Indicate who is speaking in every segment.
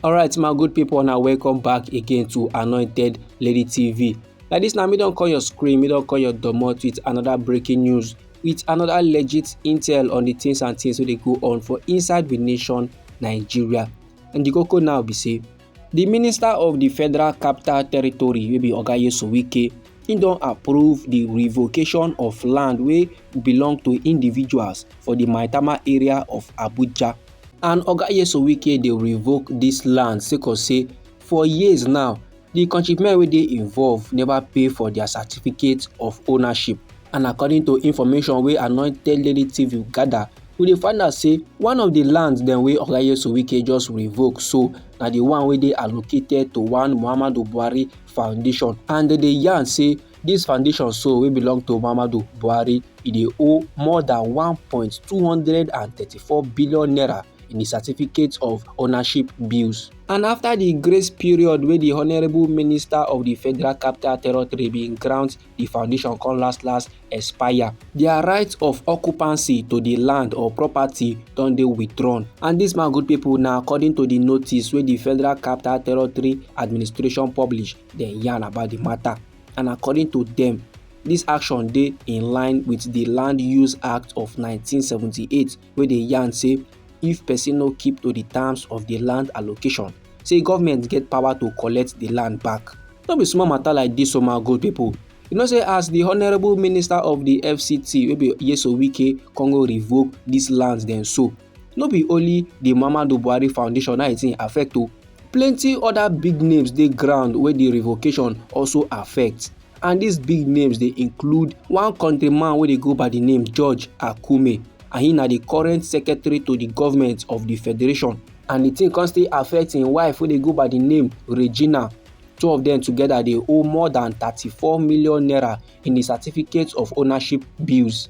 Speaker 1: alright my good people now welcome back again to anointed lady tv like this now me don't call your screen me don't call your domot with another breaking news with another legit intel on the things and things wey dey go on for inside the nation nigeria and the koko now be say di minister of di federal capital territory wey be oga nyesom wike im don approve di revocation of land wey belong to individuals for di maitama area of abuja and oga nyesom wike dey revoke dis land sake of say for years now di countrymen wey dey involved neva pay for dia certificate of ownership and according to information wey anointed lady tv gather we dey find out say one of the lands dem wey ogayesu wike just revoke so na the one wey dey allocated to one muhammadu buhari foundation and dem dey yarn say this foundation so wey belong to muhammadu buhari e dey owe more than one point two hundred and thirty-four billion naira in the certificate of ownership bills. And after the grace period wey the Honourable Minister of the Federal Capital Territory bin grant di foundation come last last expire dia right of occupancy to di land or property don dey withdrawn and dis man good pipo na according to di notice wey di federal capital territory administration publish dem yarn about di matter and according to dem dis action dey in line wit di land use act of 1978 wey dey yarn say if person no keep to the terms of the land allocation say government get power to collect the land back no be small matter like this o my good people you know say as the honourable minister of the fct wey be yeso wike come go revoke these lands dem so no be only the muhammadu buhari foundation na it affect o plenty other big names dey ground wey the revocation also affect and dis big names dey include one kontri man wey dey go by di name george akume and he na di current secretary to di government of di federation and di tin come still affect im wife wey dey go by di name regina two of dem togeda dey owe more dan 34 million naira in di certificate of ownership bills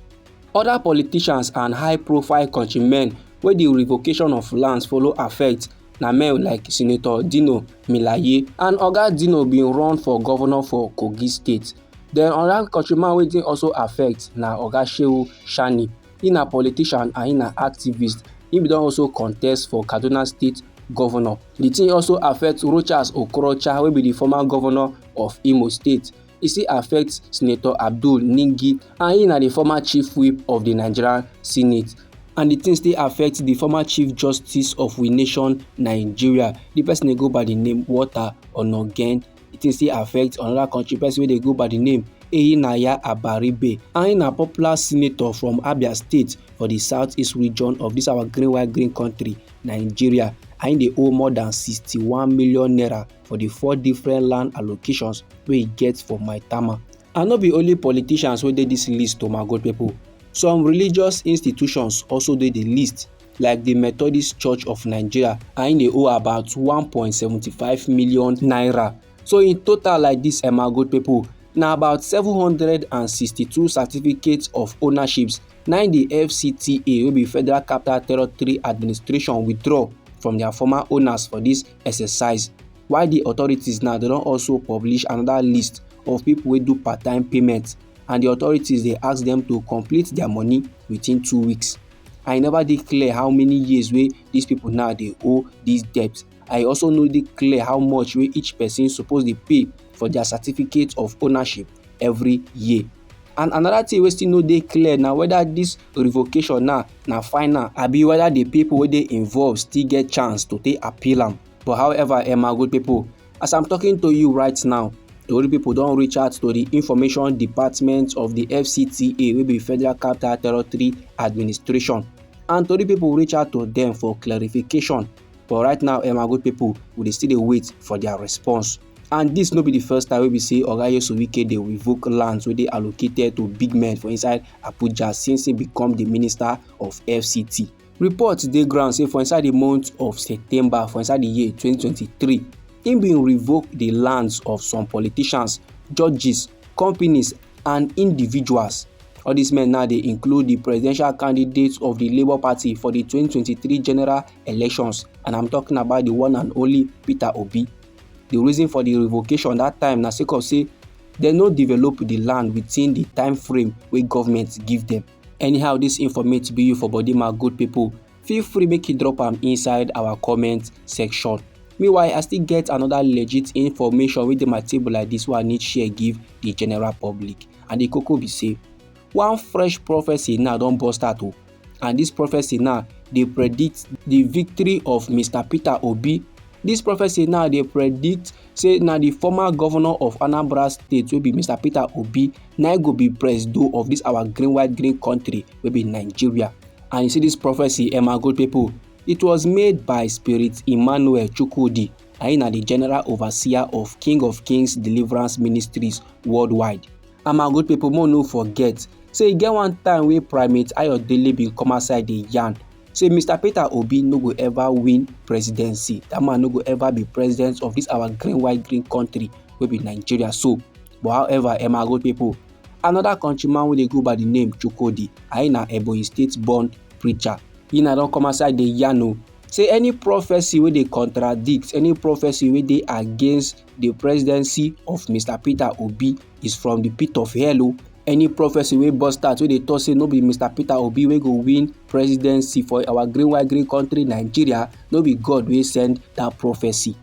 Speaker 1: oda politicians and high profile kontri men wey di revocation of lands follow affect na men like senator dino melaye and oga dino bin run for govnor for kogi state den oda kontryman wey di also affect na oga shehu sani e na politician and e na activist e bin don also contest for kaduna state govnor di tin also affect rochas okorocha wey be di former govnor of imo state e still affect senator abdul ningi and he na the former chief whip of the nigerian senate and the thing still affect the former chief justice of we nation nigeria the person dey go by the name walter onogen the thing still affect another country person wey dey go by the name Eyinaya Abaribe and he na popular senator from Abia State for the southeast region of this our green white green country Nigeria and he dey owe more than sixty-one million naira for the four different land allocations wey e get for Maitama. And no be only politicians wey dey this list o my good people. Some religious institutions also dey the list like the Methodist Church of Nigeria and they owe about 1.75 million naira. So in total like this, eh, my good people, na about 762 certificates of ownerships na the fcta wey be federal capital territory administration withdraw from their former owners for this exercise while di authorities now dem don also publish another list of pipo wey do part time payment and di authorities dey ask dem to complete dia money within two weeks and e never dey clear how many years wey dis pipo now dey owe dis debt and e also no dey clear how much wey each person suppose dey pay for dia certificate of ownership every year and another thing wey still no dey clear na whether dis revocation now na final abi whether the people wey dey involved still get chance to take appeal am but however emma good people as i'm talking to you right now tori people don reach out to the information department of the fcta wey be federal capital territory administration and tori people reach out to them for clarification but right now emma good people we dey still dey wait for their response. And dis no be di first time wey be say Oga Nyesom Wike dey revoke lands wey dey allocated to big men for inside Abuja since he become di minister of FCT. Reports dey ground say for inside di month of September for inside di year 2023, im bin revoke di lands of some politicians, judges, companies and individuals. All dis men now dey include di presidential candidates of di Labour Party for di 2023 general elections and I'm talking about di one and only Peter Obi. di reason for di revocation dat time na sake of say dem no develop di land within di time frame wey government give dem anyhow dis informate be you for body my good people feel free make you drop am inside our comment section meanwhile i still get another legit information wey dey my table like this wey i need share give the general public and the koko be say one fresh prophecy now don burst out o oh. and this prophecy now dey predict the victory of mr peter obi This prophecy now dey predict say na the former governor of anambra state wey be mr peter obi na go be presido of this our green white green country wey be nigeria and you see this prophecy emma good people it was made by spirit emmanuel chukwudi na him na the general overseer of king of kings deliverance ministries worldwide And my good people, more no forget, say e get one time wey Primate Ayodele bin come outside dey yarn say Mr. Peter Obi no go ever win presidency. That man no go ever be president of this our green white green country wey be Nigeria so. But however, eh my good people, another countryman wey dey go by the name Chukwudi, I na Ebonyi State born preacher. He na don come outside dey yarn o say any prophecy wey dey contradict, any prophecy wey dey against the presidency of mr peter obi is from the pit of hell o oh. any prophecy wey burst out wey dey talk say no be mr peter obi wey go win presidency for our green white green country nigeria no be god wey send that prophecy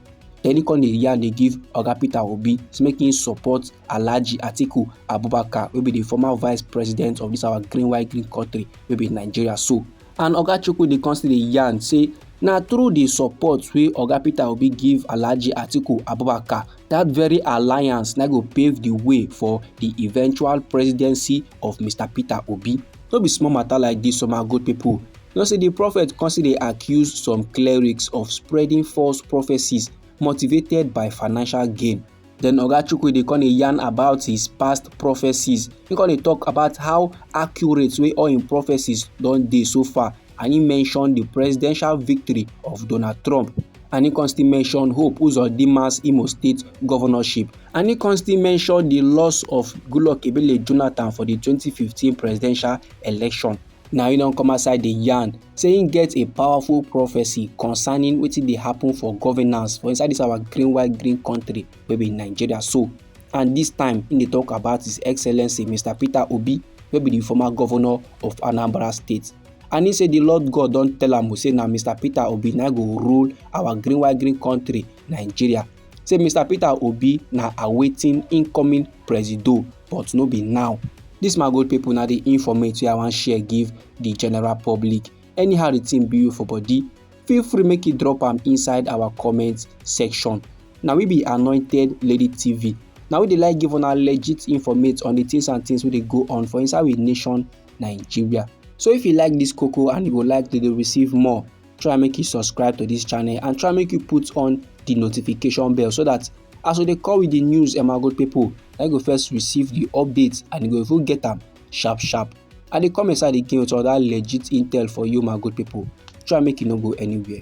Speaker 1: then he come dey yarn dey give oga peter obi say make him support alhaji atiku abubakar wey be the former vice president of this our green white green country wey be nigeria so And Oga Chukwudi come still dey yarn say na through di support wey Oga Peter Obi give Alhaji Atiku Abubakar, dat very alliance na go pave di way for di eventual presidency of Mr Peter Obi. No be small matter like dis, some good people. You know say di prophet come still dey accuse some clerics of spreading false prophecies motivated by financial gain. Then Oga Chukwudi come dey yarn about his past prophecies. He come dey talk about how accurate wey all him prophecies don dey so far and he mention the presidential victory of Donald Trump and he come still mention Hope Uzodima's Imo State governorship and he come still mention the loss of Goodluck Ebele Jonathan for the 2015 presidential election. Now he don come outside the yarn say he get a powerful prophecy concerning wetin dey happen for governance for inside this our green white green country wey be Nigeria so and this time he dey talk about his excellency Mr Peter Obi wey be the former governor of Anambra state and he say the Lord God don tell am say na Mr Peter Obi na go rule our green white green country nigeria say mr peter obi na awaiting incoming presido but no be now dis my good pipo na di informate wey i wan share give di general public anyhow di tin be you for body feel free make you drop am inside our comment section na we be anointed lady tv na we dey like give una legit informate on di tins and tins wey dey go on for inside we nation nigeria so if you like dis koko and you go like to dey receive more try make you subscribe to this channel and try make you put on the notification bell so that as we dey come with the news emmagold people na go first receive the updates and you go even get them sharp sharp i dey come inside again with other legit intel for you my good people try make you no go anywhere